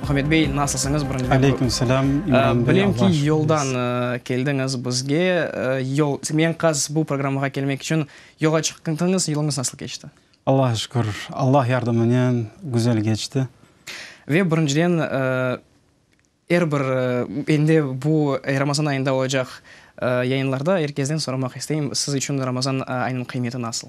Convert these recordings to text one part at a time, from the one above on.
Muhammed bey, nasılsıñız? Aleyküm selam, İmran bey. Bilem ki, yoldan keldiñiz bizge. Yol, eñqaz bu programğa kelmek içün yola çıqtıñız. Yoluñız nasıl keçti? Allaha şükür, Allah yardımınen güzel keçti. Ve birinciden, er bir, endi de bu Ramazan ayında olacaq yayınlarda er kesden soramaq isteyim, siz içün Ramazan ayınıñ qıymeti nasıl?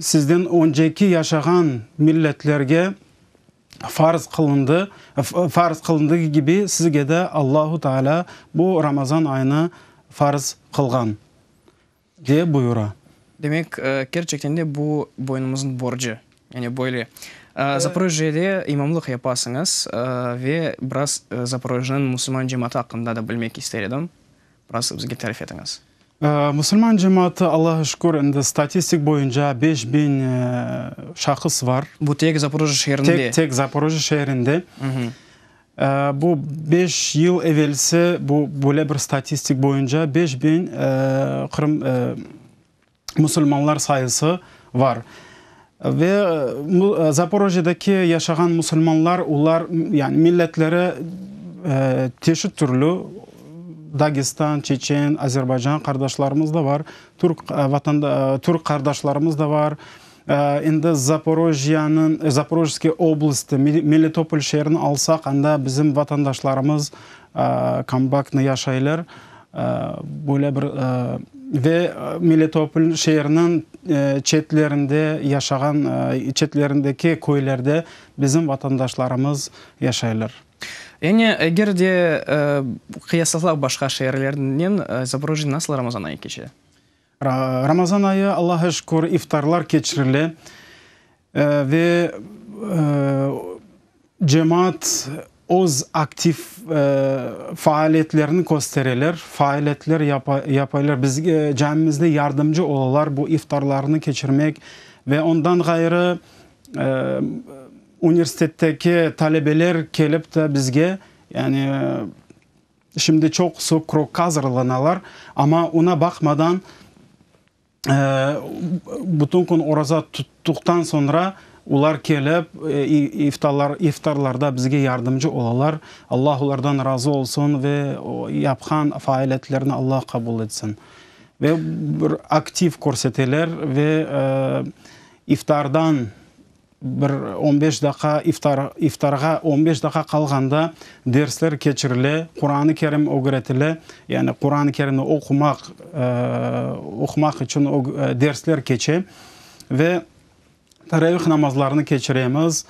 Sizden önceki yaşağan milletlerge farz qılındı, farz qılındığı kibi sizge de Allahu Teala bu Ramazan ayını farz qılğan, diye buyura. Demek, kerçekten de bu boynumıznıñ borcu. Yani böyle, Zaporojjede imamlıq yapasıñız ve biraz Zaporojjeniñ musulman cemaatı aqqında da bilmek ister edim. Nasıl bizge tarif etiñiz? Musulman cemaatı, Allağa şükür, endi statistik boyunca beş biñ şahıs bar. Bu tek Zaporojye şeerinde? Tek, tek Zaporojye şeerinde. Bu beş yıl evelsi, bu böyle bir statistik boyunca beş biñ Qırım, musulmanlar sayısı var. Ve Zaporojyedeki yaşağan musulmanlar, olar, yani milletleri çeşit türlü, Dagestan, Çeçen, Azerbaycan qardaşlarımız da var, Türk qardaşlarımız da var, Endi Zaporojjıyanıñ, Zaporojskıy oblasti, Melitopol şeerini alsaq, anda bizim vatandaşlarımız kombaktnı yaşaylar. Böyle bir, ve Melitopol şeeriniñ çetlerinde yaşağan, çetlerindeki köylerde bizim vatandaşlarımız yaşaylar. Yani eger de qıyaslasav başqa şeerlernen, Zaporojjıy nasıl Ramazan ayı keçe? Ramazan ayı, Allaha şükür, iftarlar keçirile ve cemaat öz aktiv faaliyetlerini köstereler, faaliyetler yapaylar, bizge, camimizde yardımcı olalar bu iftarlarını keçirmek ve ondan ğayrı universitetteki talebeler kelip de bizge, yani, Şimdi çoqusı krokka azırlanalar, amma oña baqmadan, bütün kün oraza tuttuqtan soñra olar kelip, iftarlarda bizge yardımcı olalar. Alla olardan razı olsun ve yapqan faaliyetlerini Alla qabul etsin. Ve bir aktiv körseteler ve iftardan Bir on beş daqa iftar, iftarğa on beş daqa qalğanda dersler keçirile, Quranı Kerim ögretile, yani Quranı Kerimni oqumaq, oqumaq içün dersler keçe ve Teravih namazlarını keçiremiz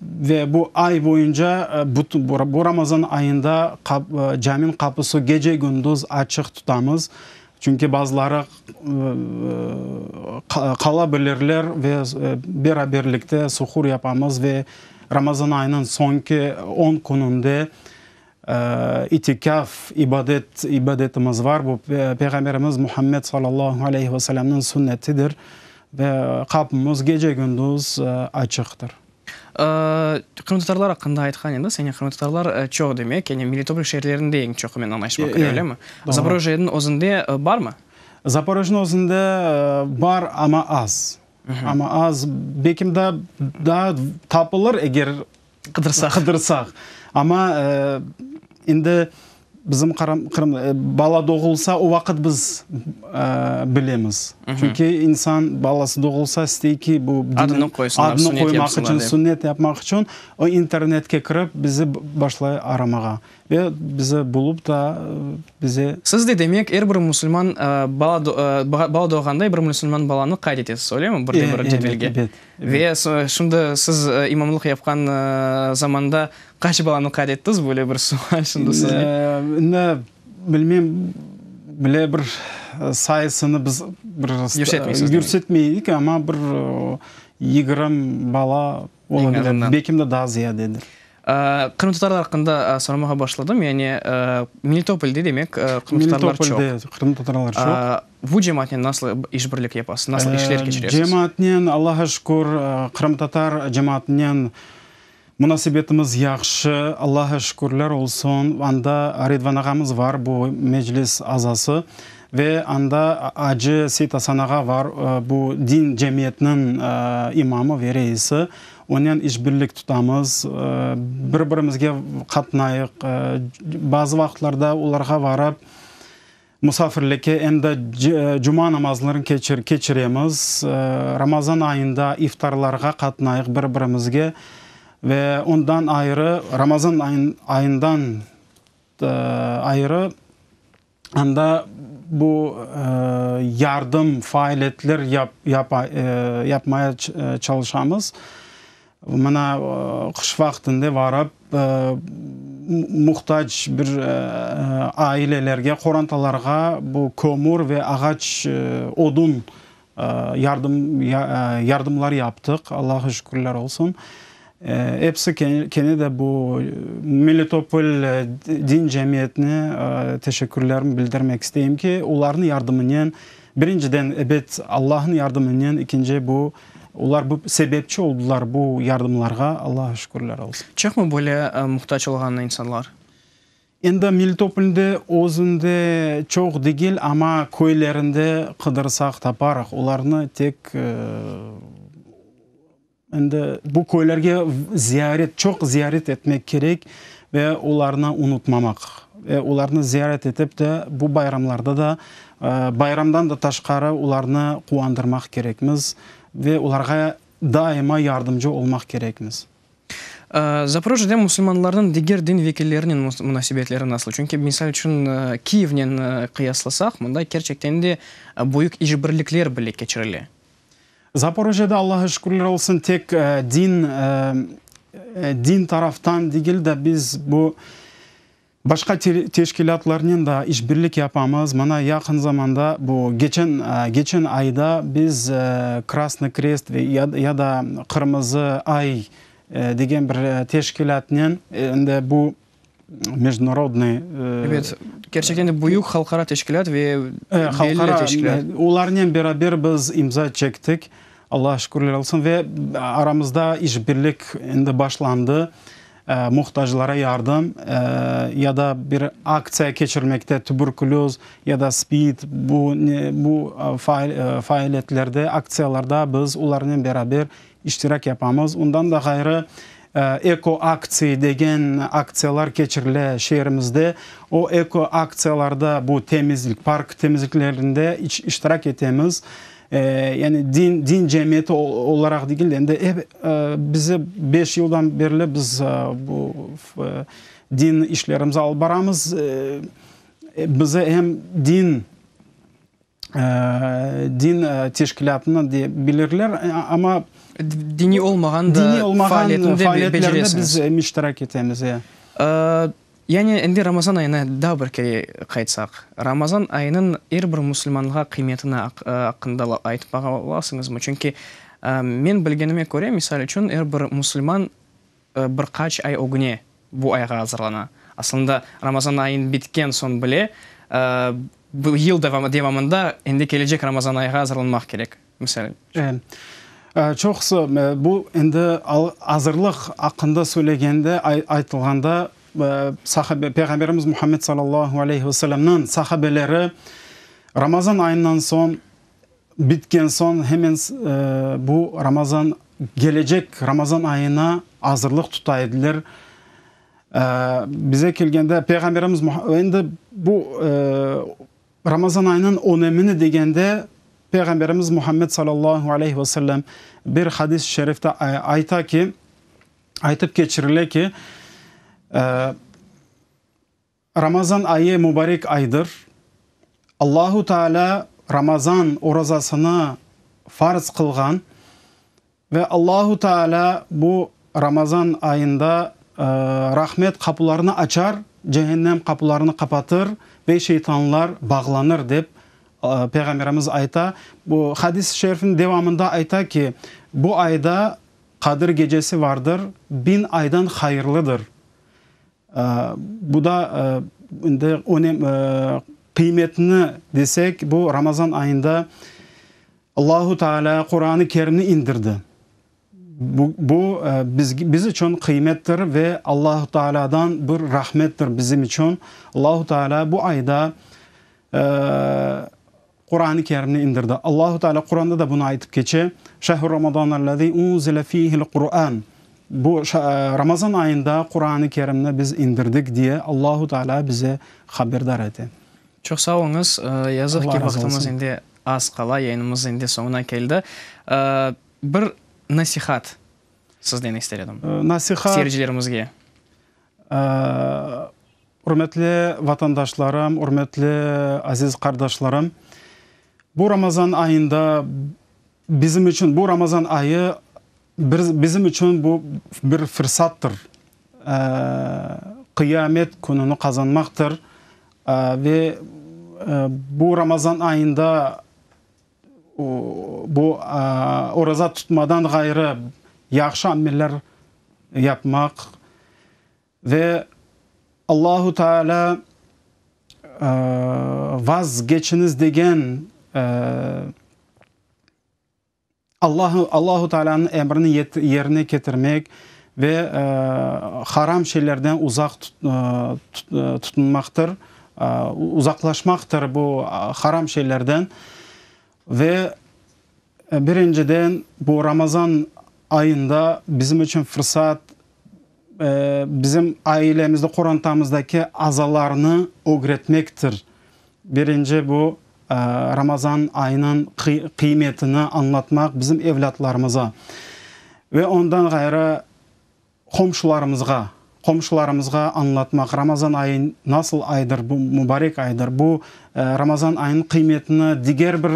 ve bu ay boyunca bütün bu Ramazan ayında cami'nin qapısı gece gündüz açıq tutamız. Çünki bazıları qala bilirler ve beraberlikte suhur yapamız ve Ramazan ayınıñ soñki on kününde itikâf ibadet, ibadetimiz var. Bu Peyğamberimiz Muhammed sallallahu aleyhi ve sellemniñ sünnetidir. Ve qapımız gece-gündüz açıqtır. Qırımtatarlar aqqında aytqan ediñ, señe qırımtatarlar çoq demek, yani Melitopol şeerlerinde eñ çoq hemen anlaşma kire, öylemi? Zaporojjeniñ özünde barmı? Zaporojjeniñ özünde bar, amma az. Amma az, belki daa daa tapılır, eger qıdırsaq, amma endi Bizim Qırım, Qırım, bala doğulsa, o vaqıt biz bilemiz. Çünki insan balası doğulsa istey ki, bu Adını qoysınlar, sünnet yapsınlar dep. Adını qoymaq içün, sünnet yapmaq içün o internetke kirip bizi başlay aramağa. Ve bizi bulup da bize. Siz de demek, er bir musulman bala, bala doğğanda er bir musulman balanı qayd etesiz, öyle mi? Bir de bir cedvelge. Evet, evet. Ve şimdi siz imamlıq yapqan zamanda qaç balanı qayd ettiz? Böyle bir sual şimdi sizge. İndi bilmem, bile bir sayısını biz bir yürsetmeydik, amma bir yigrim bala ola bile, belkim de daa ziyadedir. Qırımtatarlar aqqında soramağa başladım, yani Melitopolde demek qırımtatarlar çoq. Melitopolde qırımtatarlar çoq. Bu cemaatnen nasıl işbirlik yapasız, nasıl işler keçiresiz? Cemaatnen, Allaha şükür, qırımtatar cemaatnen munasebetimiz yahşı, Allaha şükürler olsun. Anda Redvan ağamız bar, bu Meclis azası, ve anda Acı Seytasan ağa bar, bu din cemiyetiniñ imamı ve reisi. Onen işbirlik tutamız, bir-birimizge qatnayıq, bazı vaqıtlarda olarğa varıp musafirlikke em de cuma namazlarını keçiremiz. Ramazan ayında iftarlarğa qatnayıq bir-birimizge ve ondan ayrı, Ramazan ayından ayrı, Anda bu yardım, faaliyetler yapmaya çalışamız. Mına qış vaqtında varıp, muhtac bir ailelerge, qorantalarğa bu kömür ve ağaç, odun Yardımlar yaptıq, Allağa şükürler olsun. Episi kene de bu Melitopol din cemiyetine teşekkürlerimi bildirmek isteyim ki, olarnıñ yardımınen, birinciden, ebet, Allahnıñ yardımınen, ekinci, bu, olar bu sebepçi oldılar bu yardımlarğa, Allağa şükürler olsun. Çoqmı böyle muhtac olğan insanlar? Endi Melitopolde özünde çoq degil, amma köylerinde qıdırsaq taparıq. Olarnı tek endi bu köylerge ziyaret, çoq ziyaret etmek kerek ve olarnı unutmamaq. Ve olarnı ziyaret etip de bu bayramlarda da, bayramdan da taşqarı olarnı quvandırmaq kerekmiz ve olarğa daima yardımcı olmaq kerekmiz. Zaporojjede musulmanlarnıñ diger din vekillerinen munasebetleri nasıl? Çünki, misal içün, Kiyevnen qıyaslasaq, mında kerçekten de büyük işbirlikler bile keçirile. Zaporojjede, Allağa şükürler olsun, tek din, din taraftan degil de, biz bu Başqa teşkilâtlarnen daa işbirlik yapamız. Mana, yaqın zamanda, bu geçen geçen ayda biz Krasnıy Krest ve ya da Qırmızı ay degen bir teşkilâtnen endi bu mecdnorodnıy, Evet, kerçekten de büyük halqara teşkilât ve belli teşkilât. Olarnen beraber biz imza çektik. Allağa şükürler olsun ve aramızda işbirlik endi başlandı. muhtaclara yardım ya da bir aktsiya keçirmekte, tübürküloz ya da spid, bu bu faaliyetlerde, aktsiyalarda biz olarnen beraber iştirak yapamız. Ondan da ğayrı, Eko aktsiy degen aktsiyalar keçirile şeerimizde. O eko aktsiyalarda bu temizlik, park temizliklerinde iştirak etemiz. Yani din, din cemiyeti olaraq degil de, endi ep, bize beş yıldan berli biz bu din işlerimizni alıp baramız. Bize em din, din teşkilâtından de bilirler, amma. Diniy olmağan da faaliyetinde beceresiniz. Diniy olmağan faaliyetlerinde biz iştirak etemiz, e. Yani, endi Ramazan ayına daa bir kere qaytsaq, Ramazan ayınıñ er bir musulmanğa qıymetini aqqında aytıp bağa olasıñızmı? Çünki men bilgenime köre, misal içün, er bir musulman bir qaç ay ögüne bu ayğa azırlana. Aslında, Ramazan ayın bitken soñ bile, yıl devamında endi kelecek Ramazan ayğa azırlanmaq kerek. Misal içün. Çoqusı, bu endi azırlıq aqqında söylegende, aytılğanda, Peyğamberimiz Muhammed sallallahu aleyhi ve sellemniñ sahabeleri Ramazan ayından soñ, bitken soñ, hemen bu Ramazan, kelecek Ramazan ayına azırlıq tuta ediler. Bize kelgende, Peyğamberimiz, endi bu, Ramazan ayınıñ önemini degende, Peyğamberimiz Muhammed sallallahu aleyh ve sellem bir hadis-i şerifte ayta ki, aytıp keçirile ki, Ramazan ayı mübarek aydır, Allahu Teala Ramazan orazasını farz qılğan, Ve Allahu Teala bu Ramazan ayında rahmet qapularını açar, cehennem qapularını qapatır ve şeytanlar bağlanır, dep Peyğamberimiz ayta. Bu hadis-i şerifniñ devamında ayta ki, bu ayda Qadir gecesi vardır, bin aydan hayırlıdır. Bu da indi önem, qıymetini desek, bu Ramazan ayında Allahu Teala Quranı Kerimni indirdi. Bu biz içün qıymettir ve Allahu Teala'dan bir rahmettir bizim içün. Allahu Teala bu ayda Quran-ı Kerimni indirdi. Allahu Teala Quranda da bunı aytıp keçe, Şehru Ramadanellezî unzile fîhil Qurân, Bu, Ramazan ayında Quran-ı Kerimni biz indirdik, diye Allahu Teala bizi haberdar ete. Çoq sağ oluñız. Yazıq ki, vaqtımız indi az qala, yayınımız indi soñuna keldi. Bir nasihat sizden ister edim, seyircilerimizge. Ürmetli vatandaşlarım, ürmetli aziz qardaşlarım, bu Ramazan ayında bizim içün, bu Ramazan ayı bizim içün bu bir fırsattır, Qıyamet kününi qazanmaqtır ve bu Ramazan ayında, Bu, oraza tutmadan ğayrı yahşı ameller yapmaq ve Allahu Teala vazgeçiñiz degen Allahu Teala'nıñ emrini yerine ketirmek ve haram şeylerden uzaq tutunmaqtır. Uzaqlaşmaqtır bu haram şeylerden. Ve birinciden, bu Ramazan ayında bizim içün fırsat, bizim ailemizde, qorantamızdaki azalarnı ögretmektir. Birinci bu, Ramazan ayınıñ qıymetini añlatmaq bizim evlâtlarımıza. Ve ondan ğayrı, Qomşularımızğa, qomşularımızğa añlatmaq, Ramazan ayı nasıl aydır, bu mubarek aydır, bu Ramazan ayınıñ qıymetini diger bir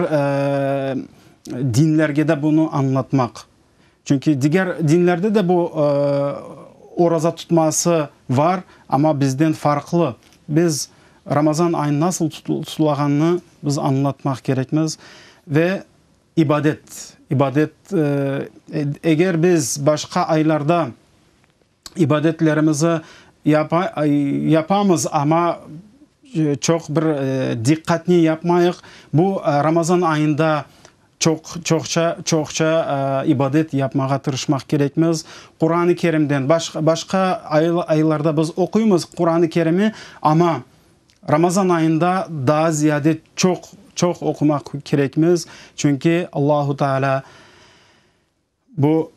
dinlerge de bunı añlatmaq. Çünki diger dinlerde de bu oraza tutması var, amma bizden farqlı. Biz Ramazan ayı nasıl tutulağanını biz añlatmaq kerekmiz ve. İbadet, ibadet, eger biz başqa aylarda ibadetlerimizi yapamız, amma çoq bir diqqatnen yapmayıq, bu Ramazan ayında çoqça, çoqça ibadet yapmağa tırışmaq kerekmiz. Quran-ı Kerimden, başqa aylarda biz oquymız Quran-ı Kerimi, amma. Ramazan ayında daa ziyade çoq, çoq oqumaq kerekmiz, çünki Allahu Teala bu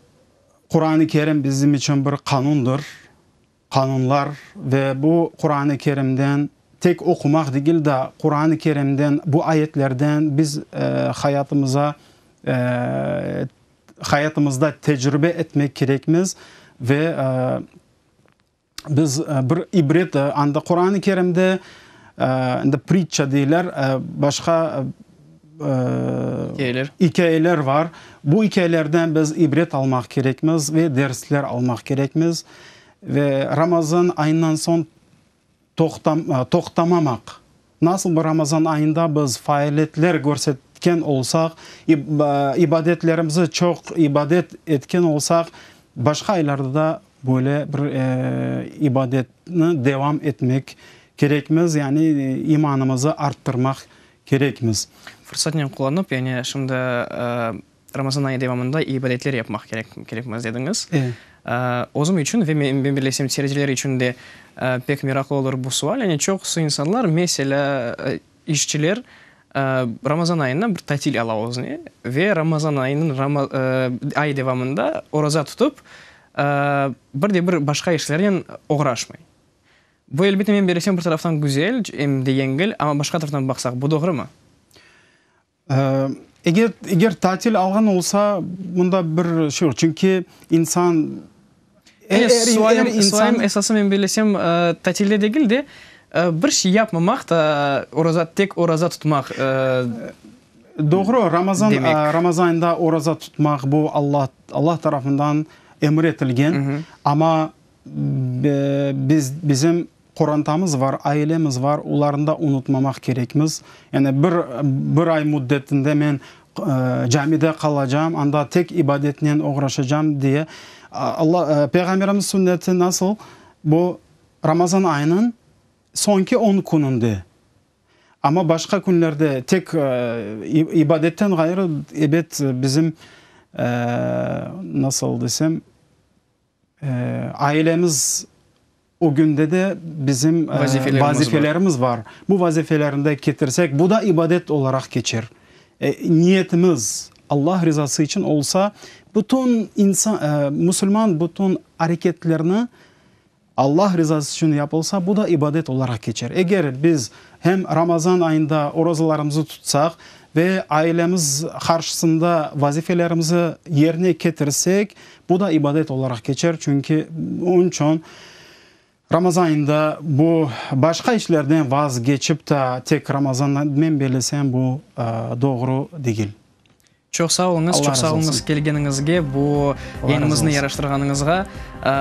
Quran-ı Kerim bizim içün bir qanundır, qanunlar ve bu Quran-ı Kerimden tek oqumaq degil daa, Quran-ı Kerimden, bu ayetlerden biz hayatımıza, hayatımızda tecrübe etmek kerekmiz ve Biz bir ibret anda Quran-ı Kerimde indi pritça deyler, başqa ikâyeler var. Bu ikâyelerden biz ibret almaq kerekmiz ve dersler almaq kerekmiz. Ve Ramazan ayından soñ toqtamamaq Nasıl bu Ramazan ayında biz faaliyetler körsetken olsaq, ibadetlerimzi çoq ibadet etken olsaq, başqa aylarda da böyle bir ibadetni devam etmek kerekmiz, yani imanımızı arttırmaq kerekmiz. Fırsatnen qullanıp, yani şimdi Ramazan ayı devamında ibadetler yapmaq kerek, kerekmez dediñiz. Özüm içün ve men bilesem seyirciler içün de pek meraqlı olur bu sual. Yani çoqusı insanlar, meselâ, işçiler Ramazan ayında bir tatil ala özüne ve Ramazan ayınıñ, ay devamında oraza tutıp, bir de bir başqa işlernen oğraşmay. Bu, elbette, men bilesem, bir taraftan güzel, em de yengil, amma başqa taraftan baqsaq, bu doğrumı? Eger, eger tatil alğan olsa, bunda bir şey yoq, çünki insan, er, er, er insan. Sualim, esası men bellesem, tatilde degil de, bir şey yapmamaq da, oraza, tek oraza tutmaq demek. Doğru, Ramazan, Ramazan ayında oraza tutmaq, bu Allah, Allah tarafından emir etilgen, amma biz, bizim Qorantamız var, ailemiz var, olarnı da unutmamaq kerekmiz. Yani bir, bir ay müddetinde men camide qalacağım, anda tek ibadetnen oğraşacağım diye. Alla, Peyğamberimiz sünneti nasıl? Bu Ramazan ayınıñ soñki on kününde. Amma başqa künlerde tek ibadetten ğayrı, ebet bizim, nasıl desem, Ailemiz ögünde de bizim vazifelerimiz bar. Bu vazifelerni de ketirsek, bu da ibadet olaraq keçer. Niyetimiz Allah rızası içün olsa, bütün musulman bütün areketlerini Allah rızası içün yapılsa, bu da ibadet olaraq keçer. Eger biz hem Ramazan ayında orazalarımızı tutsaq ve ailemiz qarşısında vazifelerimizi yerine ketirsek, Bu da ibadet olaraq keçer, çünki onıñ içün Ramazan ayında bu başqa işlerden vazgeçip ta tek Ramazanınen belesem bu doğru degil. Çoq sağ oluñız, çoq sağ oluñız kelgeniñizge, bu yayınımıznı yaraştırğanıñızğa.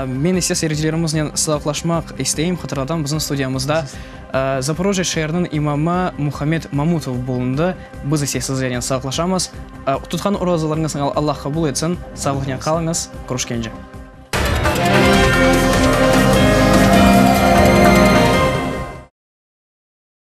Men ise seyircilerimiznen sağlaşmaq isteyim, hatırlatam, bizim studiyamızda Zaporojye şeeriniñ imamı Muhammed Mamutov bulundı. Biz ise sizlernen sağlaşamız. Tutqan rozalarıñız Allah qabul etsin, sağlıqnen qalıñız, körüşkence.